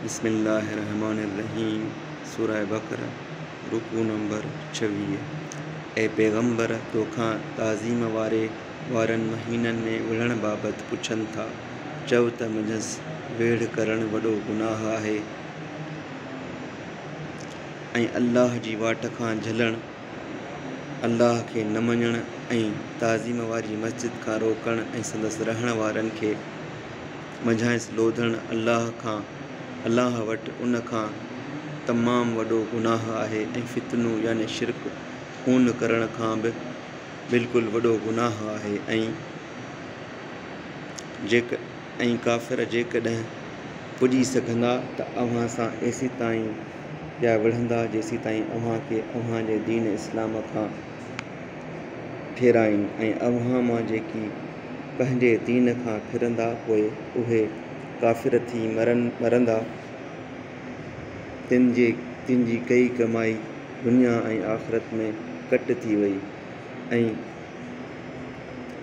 بسم الله الرحمٰن الرحيم سورة بقرة رڪوع نمبر ڇويهه، اي پيغمبر! توکان تعظيم واري وارن مهينن ۾ وڙهڻ بابت پڇن ٿا، چؤ ته منجهس ويڙهه ڪرڻ وڏو گناهه آهي ۽ الله جي واٽ کان جهلڻ، الله کي نه مڃڻ ۽ تعظيم واري مسجد کان روڪڻ ۽ سندس رهڻ وارن کي منجهانئس لوڌڻ الله کان، الله وٽ ان کان تمام وڏو گناهه آهي ۽ فتنو يعني شرڪ، خون ڪرڻ کان به بلڪل وڏو گناهه آهي ۽، ڪافر، جيڪڏهن پڄي سگهندا ته اوهان سان ايسيتائين پيا وڙهندا جيسيتائين اوهان کي اوهان جي دين اسلام کان ڦيرائين ۽ اوهان مان جيڪي پنهنجي دين کان ڦرندا پوء اهي ڪافر ٿي مرندا تن جي تن جي ڪئي ڪمائي دنيا ۽ آخرت ۾ ڪٽ ٿي وئي ۽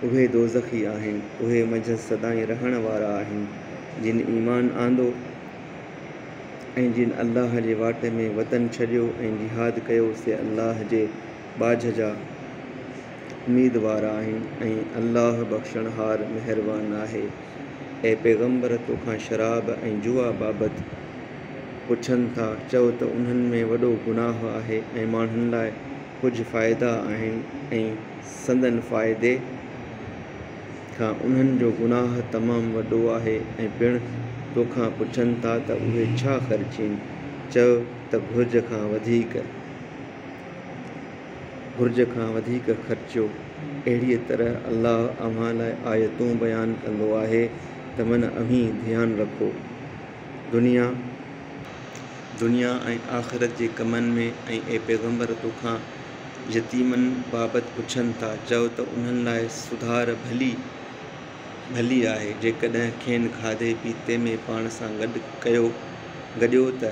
اهي دوزخي آهن اهي منجهس سدائين رهڻ وارا آهن جن ايمان آندو ۽ جن الله جي واٽ ۾ وطن ڇڏيو ۽ جهاد ڪيو سي الله جي ٻاجهه جا اميدوار آهن ۽ الله بخشڻهار مهربان آهي. اي پيغمبر! تو کان شراب ۽ جوا بابت پڇن ٿا، چؤ ته انهن ۾ وڏو گناهه آهي ۽ ماڻهن لاء ڪجهه فائدا آهن ۽ سندن فائدي، ٿا انهن جو گناهه تمام وڏو آهي ۽ پڻ توکان پڇن ٿا ته اهي ڇا خرچين؟ چئه ته گهرج کان وڌيڪ، گهرج کان وڌيڪ خرچيو، اهڙيء طرح الله اوهان لاء آيتون بيان ڪندو آهي ته من اوهين ڌيان رکو، دنيا، دنيا ۽ آخرت جي ڪمن ۾ ۽ اي پيغمبر توکان يتيمن بابت پڇن ٿا، چئو ته انهن لاء سڌار ڀلي ڀلي آهي، جيڪڏهن کين کاڌي پيتي ۾ پاڻ سان گڏ ڪيو، گڏيو ته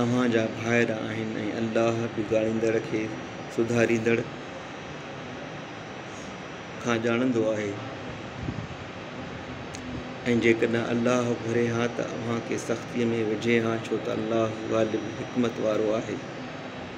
اوهان جا ڀائر آهن ۽ الله بگاڙيندڙ کي سڌاريندڙ کان ڄاڻندو آهي ۽ جيڪڏهن الله گهري ها ته اوهان کي سختيء ۾ وجهي ها، ڇو ته الله غالب حڪمت وارو آهي.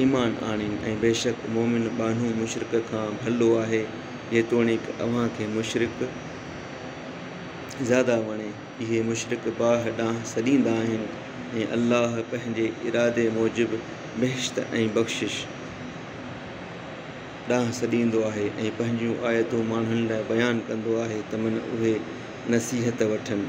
ايمان آڻين ۽ بيشڪ مؤمن ٻانهو مشرڪ کان ڀلو آهي، جيتوڻيڪ اوهان کي مشرڪ زياده وڻي. اهي مشرڪ باهه ڏانهن سڏيندا آهن ۽ الله پنهنجي ارادي موجب بهشت ۽ بخشش ڏانهن سڏيندو آهي ۽ پنهنجون آيتون ماڻهن لاء بيان ڪندو آهي ته من اهي نصيحت وٺن.